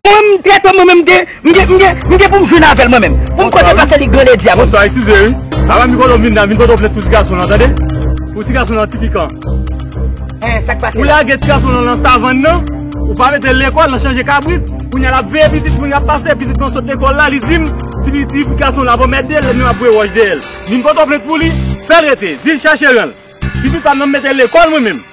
Mwen m trèt mwen menm m gen m gen m gen pou m jwenn avèl mwen menm pou m kote pase li gran lèdi a mwen. Bonswa eskize wi Alan mi kote w vin la vin pote w plent pou ti gason lan tande pou ti gason lan ti pikan Hein sak pase la? Ou lage ti gason lan nan savann nan ou pa metel lekòl nan chanje kabrit kounya lap veye pitit moun lap pase pitit lan sot lekòl la li dim ti ti gason lan ap anmède l menm ap voye wòch dèyèl vin pote w plent pou li fèl rete dil chache renl pitit pam nan m metel lekòl mwen menm.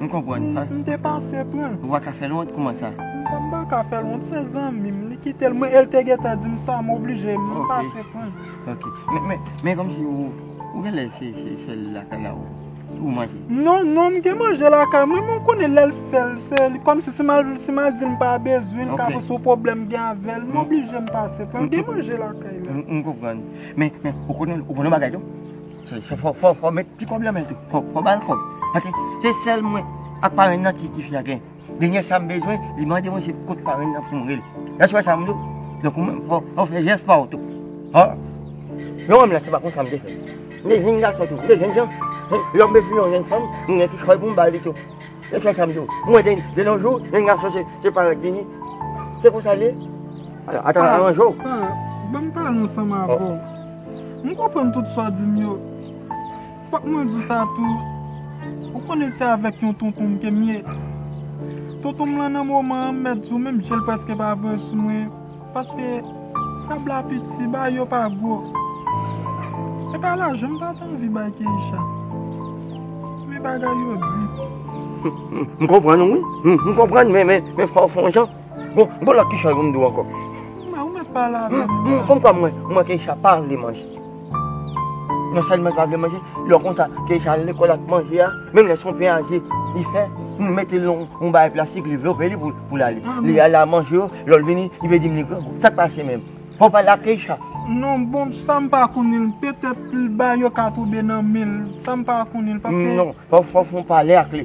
M konprann an. M te pase pran. Ou pa ka fè l wont kouman sa? M pa ka fè l wont se zanmi m li kite l mwen e l te gentan di m sa m oblije m pase pran. Ok. Men kòmsi ou gen lè se sèl lakay a ou manje? Non non m gen manje lakay mwen men ou konnen lè l fè l se li kòmsi si m al si m al di l m pa bezwen l ka panse ou pwoblèm gen avè l m oblije m pase pran. M gen manje lakay la. M konprann. Men ou konnen ou konnen bagay tou? Fò met ti kòb lan men tou. Fò bal kòb. Pase se sèl mwen ak parenn nan ti tifi a gen. Denyè sa m bezwen, li mande mwen se kot parenn nan pou m rele. Èske w wè sa m di w? Donk ou menm fò w fè jès pa w tou. Ò! Yon nonm lan se pa konsa m te fè. M te jenn gason tou. M te jènjan. Lè m bezwen yon jèn fanm, m gen kichòy pou m ba li tou. E se sa m di w, mwen gen de nos jours yon gason se parèt li ye. Se konsa l ye. Alò ata aranje w. Pa, ban m pale ansanm avè w. M konprann tout sa w di m yo. Fòk mwen di w sa tou, ou konnen se avèk yon tonton m ke m ye. Tonton m lan nan moman an m mèt di w menm je l prèske pa vwe sou mwen. Paske tab la piti bay yo pa gwo. Epa lajan m pat anvi bay Keisha. Men bagay yo di. M konprann ou wi. M konprann men fòw fon jan. Bon lòt ki chwa yo pou m di w ankò. Ou mèt pale avèm. Konm kwa m wè Keisha pa vle manje. Nan sa li pa vle manje, lè konsa ke sa al lekòl ak manje a, menm lè se yon pen a ze li fè, nou mete l nan yon bagay plastik li vlope li pou l ale. Li ale al manje yo, lè l vini li vle di m li grangou. Sa k pase menm? Fò w pale ak Keïsha. Non bon, sa m pa konnen l. Petèt l ba yo ka tonbe nan men l. Sa m pa konnen l paske. Non, fò w fon pale ak li.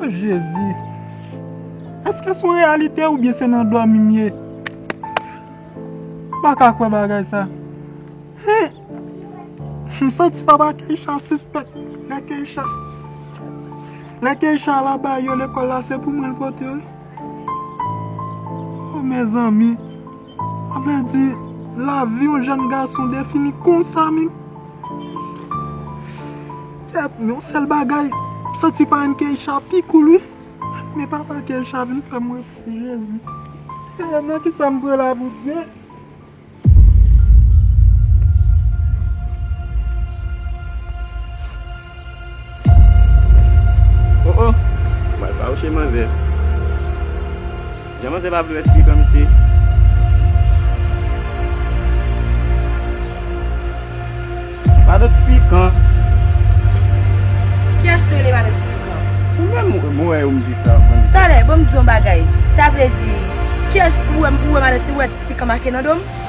O jezi! Eske son reyalite oubyen se nan dòmi m ye? M pa ka kwè bagay sa. Hum! M santi papa Keisha sispèk. Lè Keisha Lè Keisha al aba yo lekòl la se pou mwen l pote yo wi. O mezanmi! Sa vle di lavi yon jèn gason defini konsa menm? Kèt non, sèl bagay, m santi parenn Keïsha pi cool wi. Men papa Keïsha vin fè m repanse Jezi. Ee nan kisa m pran la Bondye? Oh oh Bal fawouche manzè Jan manzè pa vle wè ti pikan misye Pado ti pikan Kiyès ki rele pado ti pikan? Ou menm mwen wè yo m di sa bann Tande bon m di w yon bagay Sa vle di Kiyès ou wè pado ti pikan make nan do m?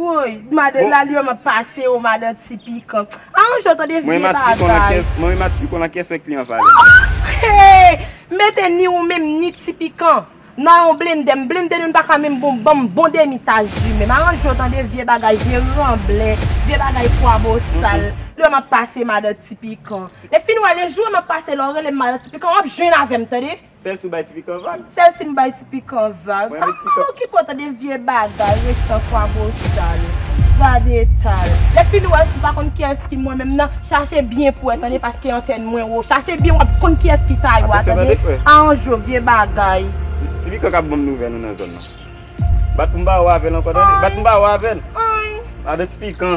Woy madan laliom ap pase ou madan ti pikan a yon jou tande vye bagay. Mwen menm ap sikonn ankes wè kliyan valè. Hee mete ni ou menm ni ti pikan nan yon blende m blende nou n paka menm bon banm bon demi tas ju menm aranje w tande vye bagay vye ranblè vye bagay pwa bosal lè map pase madan ti pikan e fin wè le jou map pase lè w rele m madan ti pikan wap jwenn avè m tande. Sèl si w bay ti pikan vag. Sèl si m bay ti pikan vag. Mwen renmen ti pikan. Ou ki pran tan de vye bagay restan kwabosal. Gade eta l. Lè fin wè si w pa konn kiyès ki mwen menm nan, chache byen pou wè tande paske antèn mwen wo. Chache byen w ap konn kiyès ki Tayo a tande. Atansyon tande frè. A an jo vye bagay. Ti pikan k ap ban m nouvèl ou nan zòn nan. Bat pou m ba ou avè l ankò tande. Bat pou m ba ou avè l. Anh. Avè ti pikan.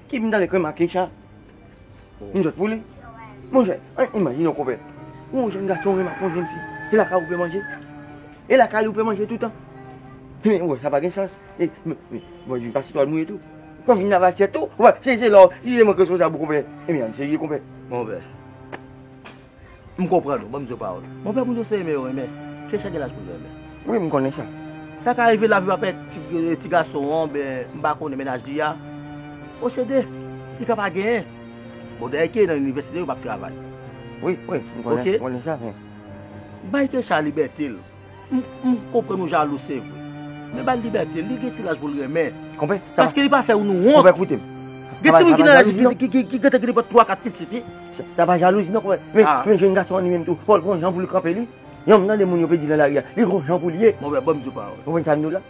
Ki m tande krèm ak Keïsha m sot pou li monchè an imajine w konpè ou yon jèn gason renmen ak yon jèn fi e lakay ou fè manje e lakay ou fè manje toutan men wè sa pa gen sans e bon di pa se twal mouye tou pou vin lave asyèt tou wè se se lè w si se mwen k responsab ou konpè ebyen an n serye konpè. M konprann ou, banm di yo pawòl. Mon pè moun yo se renmen yo renmen. Kesha gen laj pou l renmen. Wi m konnen sa. Sa ka rive lavi pa pèmèt ti gason an oubyen m pa konnen mennaj li a posede. Li ka pa genyen. Bon dayè ke nan inivèsite yo pa k travay. Wi, wi, m konnen sa men. Bay Kesha libète l. M konprann ou jalou se vre. Men ba l libète l, li gen ti laj pou l renmen. Konpè. Paske li pa fè nou wont. Konpè koute m. Gen timoun ki nan laj li ki gentan gen nenpòt twa kat pitit wi. Sa pa jalouzi non konpè. Men men jenn gason an li menm tou, fò l gon jan pou l kanpe li. Yon m tande moun yo pe di nan lari a, li gon jan pou l ye. Konpè ban m di w pawòl. Konprann sa m di w la?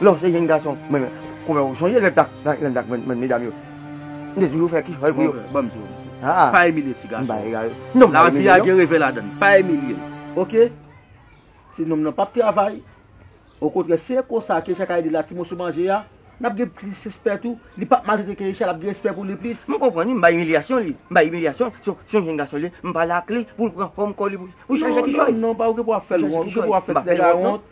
Lè w se jenn gason mwen menm konbyen ou sonje lè tak nan yon tak mwen menm medam yo m te toujou fè kichòy pou yo. Monfrè banm di w yon bagay pa imilye ti gason an lavi a gen revè ladan l pa imilye l ok ti nonm nan pap travay okontrè si e konsa Keïsha ka ede l a ti moso manje a n ap gen plis respè tou li pap maltrete Keïsha l ap gen respè pou li plis. M konprann wi m bay imilyasyon li m bay imilyasyon si se yon jenn gason li ye m pale ak li pou l pran fòm kò li pou l chache kichòy non non pa ou ki pou ap fè l wont ou ki pou ap fè ti nèg la wont.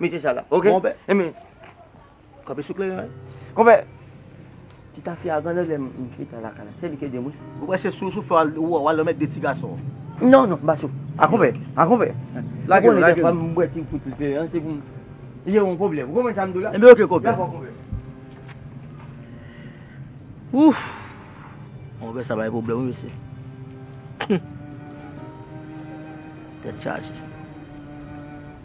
Mete sa la, ok? Konpè. E men, kope sou kleyon an. Konpè, ti tafya a gande lè m fete a lakay la. Se li ki ede m wi. Ou kwè se sou souflè w a wale met de ti gason? Non, non, m pa sou. A konpè, a konpè. Lage l, lage l. Ou konnen dè fwa m bwè ti kout li an, se pou m jere yon pwoblèm. Ou konprann sa m di w la? E men ok konpè. Dakò konpè. Ouf! Konpè sa bay pwoblèm wi mesye. Tèt chaje.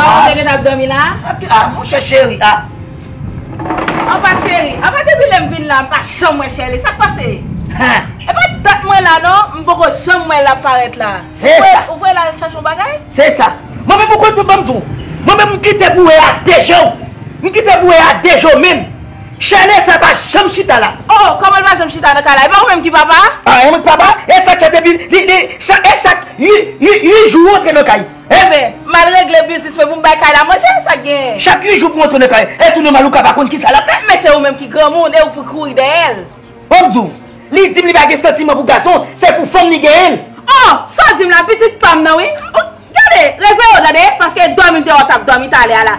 Ba ou te gen ap domi la? A mon chè cheri a. An pa cheri, an pa depi lèm vin la m pa janm wè chèli sak pase? E pa dat mwen la non m poko janm wè lap parèt la. Se sa. Ou vwe lal chache yon bagay? Se sa. Mwen menm ou konn pou banm di w. Mwen menm m kite pou e a de je w. M kite pou e a de je w menm. Chèlè sa pa janm chita la. Oh koman l pa janm chita nan kay la e pa ou menm ki papa a? Ah mwen k papa a e sak fè depi li li chak e chak ui jou ou antre nan kay e. Ebyen mal regle biznis mwen pou m bay kay la manje e sak gen. Chak ui jou pou antre nan kay e tou nòmal ou ka pa konn kisa lap fè. Men se ou menm ki granmoun e ou pou kouri dèyè l. Bon m di w li di m li pa gen santiman pou gason se pou fanm li genyen l. Oh sa w di m la pitit pam nan wi. Gade! Reve yo tande, paske dòmi te wè tap dòmi talè a la.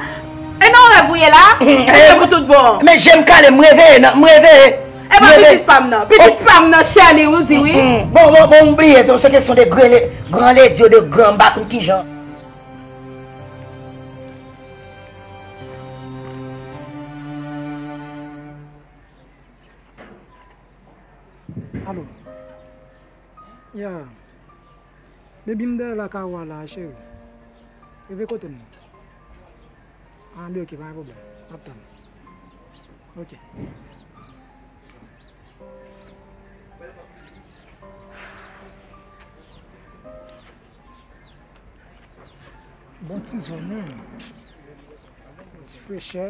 E nan rèv ou ye la, ou ye pou tout bon. Men jem kale m reveye nan, m reveye. E pa pitit pam nan. Pitit pam nan Sherley ou di wi. Bon bon bon m bliye se kesyon de gran lady ou de gran m pa konn kijan. Alo. Ya. Baby m dèyè la kay ou a la a cheri Rive kote m nan An li ok pa gen pwoblèm map tann ou ok Bon ti zòn wi Ti frechè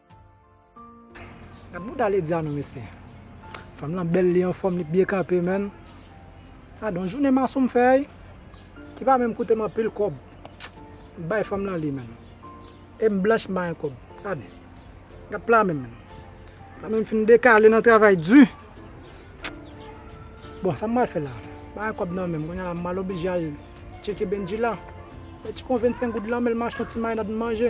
Gad mouda Ledia non mesye. Fanm lan bèl li anfòm li byen kanpe menn. Gadon jounen mason m fè ui. Ki pa menm koutem anpil kòb. M bay fanm lan li menn. Em blanch m bay kòb. Gad. Gad pla menm. Pla menm fin dekale nan travay di. Bon sa m pral fè la. M bay kòb nan menm. Kounya la m pral oblije al tcheke Bendjila. Met ti konvensenk goud lan menl m achte yon ti marinad m manje.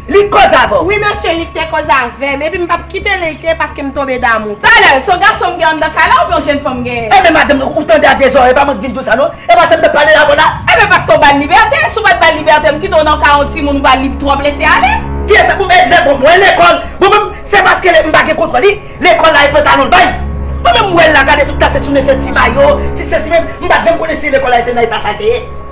Li t koz avèw. Wi mesye li te koz avèm epi m pap kite li ke paske m tonbe damou. Talè, son gason m gen anndan kay la oubyen yon jenn fanm m genyen? Enben madanm ou tande a de zòrèy pa mwen k vin di w sa non e pa sa m tap pale la vòlà. Enben paske w bal libète, si w pat bal libète m kite w nan kay yon timoun ou pa lib twòp lese ale. Kiyès pou mèt lè bon mwen lekòl bon menm se paske m pa gen kontwòl li lekòl la e pantalon l bay bon menm m wè l la gade tout la se sou mesye ti mayo ti sesi menm m pat janm konnen si lekòl la e te nan eta sa l te ye.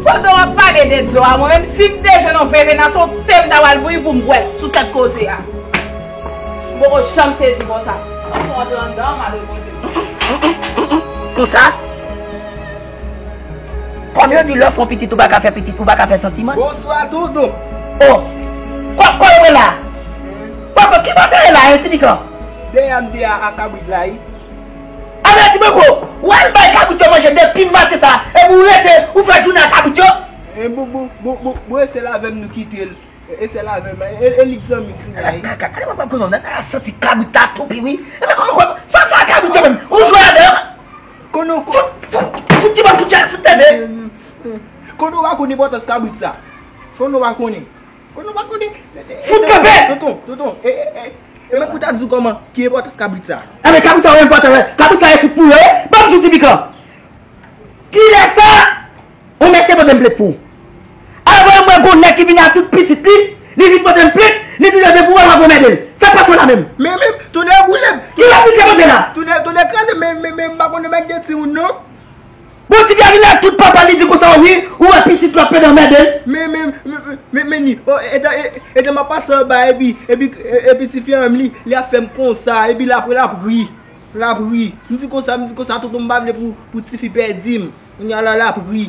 Pandan wap pale de dlo a mwen menm sim te jwenn yon vè vena son tem ta wal bouyi poum bwè sou tèt koze a. M poko janm sezi konsa. Fok m rantre anndan mare koze. Humm konsa Kom yo di lè w fon pitit ou pa ka fè pitit ou pa ka fè santiman. Bonswa doudou. Oh kòk kòk yo la. Kòk kòk ki kote yo la hein ti pikan. Deyè m deyè a kabrit la wi. Ah merci beaucoup Ou al bay kabrit yo manje depim maten sa epi ou rete ou fè joune a kabrit yo. E bon bon bon bon bon e sèl avèm nou kitel e sèl avèm e li k zanmi kounye a e. Gade bwa bwa kouzon nana santi kabrit la toupi wi e men koman koman sa fè ak kabrit yo menm ou jwe avè yo. Konnen w Fout kibòd fout chèn fout teve. Konnen w pa konn enpòtans kabrit sa konnen w pa konn. Konnen ou pa konnen. Fout kanpe! Tonton, tonton, e, e, e. E men kou ta di ou kòman, ki enpòtans kabrit sa? E men kabrit sa ou enpòtan wè. Kabrit sa e fout pou yo ye. Banm di ou ti pikan. Kilè sa on mesye pote m plent pou ou? Avan yo mwen gon nèg ki vin a tout pitit li, li vin pote m plent, li di yo depi ou wè l wap anmède l. Sa k pase w la menm? Men, men, tonnè boule m. Kilè misye pote la? Tonnè, tonnè kraze m men, men, men, m pa konnen bagay de timoun non. Bon tigè a vin la tout papa li di konsa wi ou wè pitit lòt pede anmèdel. Men men men men ni oh edan edan map pase anba epi epi epi tifi an menm li li ap fèm konsa epi la apre lap ri lap ri m di konsa m di konsa tonton m pa vle pou pou tifi pèdi m kounya la lap ri.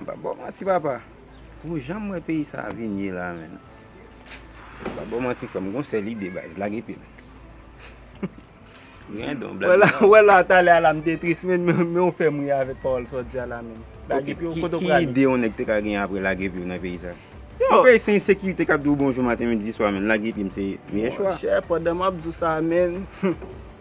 M pap baw manti papa pou janm wè peyi sa vin ye la menn m pap baw manti frèm m gon sèl ide baz lage pye menn gen don black man ou wè la talè a la m te tris menn men ou fèm ri avèk pawòl sa w di a la menn lage pye w kote w prale ki ide yon nèg te ka gen apre lage pye w nan peyi sa yon peyi se ensekirite kap di w bonjou maten midi swa menn lage pye m se meyè chwa monchè pandan map di w sa menn humm.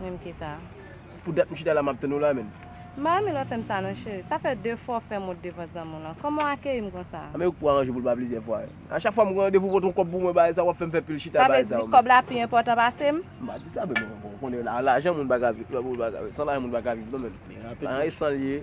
Menm kisa. Pou dat m chita la map tann ou la menm. M pa renmen lè w fè m sa non cheri. Sa fè 2 fwa w fè mot devan zanmi w lan. Kòman w akeyi m konsa? Anben yo k pou aranje pou l pa plizyè fwa. A chak fwa m gen randevou w pot on kòb pou mwen bay sa wap fè m fè pil chita bay sa w menm. Sa vle di kòb la pi enpòtan pase m? M pa di sa menm bon ou konnen lajan moun pa ka viv san lajan moun pa ka viv non menm. Lajan e san l ye.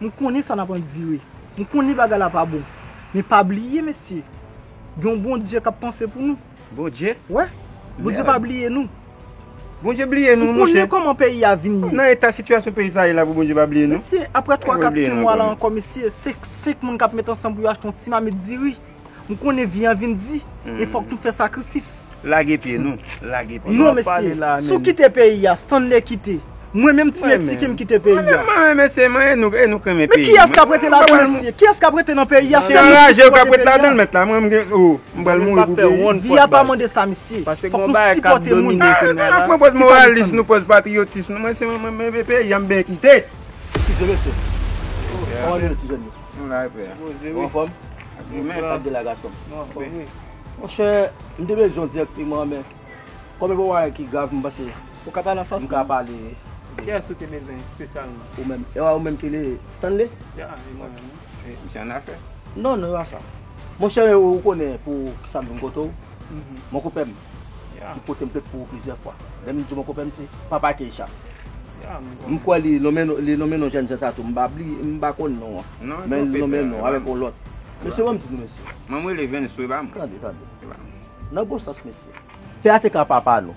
M konnen sa n ap andire. M konnen bagay la pa bon. Men pa bliye mesye, gen yon Bondye k ap panse pou nou. Bondye? Wè. Bondye pa bliye nou. Bondye bliye nou, monchè. Ou konnen kòman peyi a vin ye. Nan eta sitiyasyon peyi sa ye la pou Bondye pa bliye nou? Mesye, apre twa, kat, senk mwa la ankò mesye, se senk moun k ap met ansanm pou yo achte yon ti mamit diri. M konnen vi an vin di, e fòk tou fè sakrifis. Lage pye nou, lage pye. Non mesye, si w kite peyi a, Stanley kite. Mwen menm ti Meksiken m kite peyi a. Mwen menm mesye, mwen e nou, e nou k renmen peyi nou. Men kiyès k ap rete ladan l mesye? Kiyès k ap rete nan peyi a? Se nou menm ki pral rete ladan l mèt la. Mwen menm gen, oh, m pral mouri pou peyi m. Vi a pa mande sa mesye. Fòk nou sipòte moun. A, nou menm nou pran pòz moralis nou, pòz patriyotis nou. Mwen se mwen menm, mwen menm e peyi a m ben kite. Ti jèn mesye. Kòman nou ye ti jèn yo? Ou la epe a? Ou anfòm? Ou la epe a gasonm? Ou anfòm wi. Monchè, m te bezwen w dirèkteman men kòm e pa yon bagay ki grav m panse Ou ka pale an franse? M ka pale wi. Kiyès ou te bezwen espesyalman? Ou menm. E pa ou menm ki rele Stanley? Ya, e mwen menm wi. Misye annafè? Non, non, e pa sa. Monchè, ou konnen pou kisa m vin kote w? Mon koupè m. ki pote m plenn pou ou plizyè fwa. Lè m di bon konpè m se Papa Keïsha. M kwè li nonmen non jènjan sa tou. M pa bli, m pa konn non an. Men l nonmen non avèk yon lòt. Mesye ban m di nou mesye. Ban m rele Venswe ba m. Tande, tande. Nan bon sans mesye. Pè a te ka papa nou.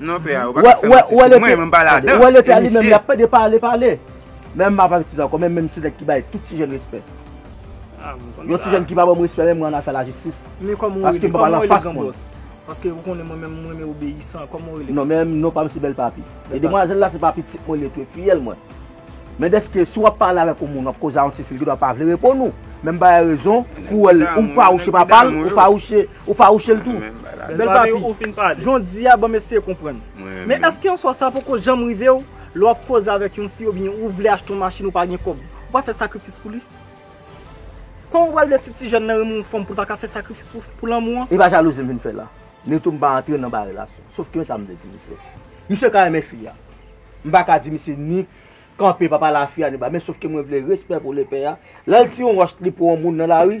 Non pè a ou paka fèm manti sou mwen mwen pa la dan. Ou wè lepè a li menm li ap pede pale pale. Menm map avèk titid ankò menm menm se nèg ki bay tout ti jèn respè. Yon ti jèn ki pa banm respè menm mwen an afè lajistis. Men kòman ou rele kòman ou rele gran bòs. Paske ou konnen mwen menm mwen renmen obeyisan kòman ou rele. Non menm non pam se bèl papi. E demwazèl la se pa pitit mwen li ye tou e fiyèl mwen. Men dèske si wap pale avèk yon moun wap koze a yon ti fi li gendwa pa vle reponn ou. Menm bay rezon pou ou wèl ou fawouche papal ou fawouche. Ou fawouchel tou. Bel papi. Jan w di a banm eseye konprann. Men eske answa sa poko janm rive w lè w ap koze avèk yon fi oubyen ou vle achte yon machin ou pa gen kòb. Ou pa fè sakrifis pou li? Kòman ou pral vle si ti jèn nan renmen yon fanm pou l pa ka fè sakrifis pou lanmou an? E pa jalouzi m vin fè la. Neytou m pa antre nan bagay relasyon. Sof ke sa m vle di misye. Misye ka renmen fi a. M pa ka di misye ni kanpe pa pale a fi a ni ba men sof ke mwen vle respè pou lepè a. Lè l ti yon wòch li pou yon moun nan lari.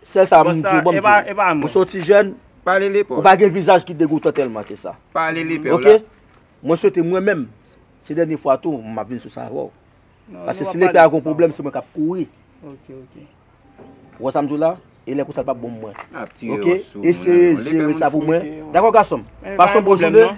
Sèl sa m di w bon m di w. Ou se yon ti jèn, ou pa gen vizaj ki degoutan tèlman ke sa. Ok? Mwen swete mwen menm, se dènye fwa tou m ap vin sou sa avè w. Paske si lepè a gen yon pwoblèm se mwen k ap kouri. Ou wè sa m di w la? E lè konsa l p ap bon pou mwen. Ok? Eseye jere sa pou mwen. Dakò gason m? Pase yon bon jounen.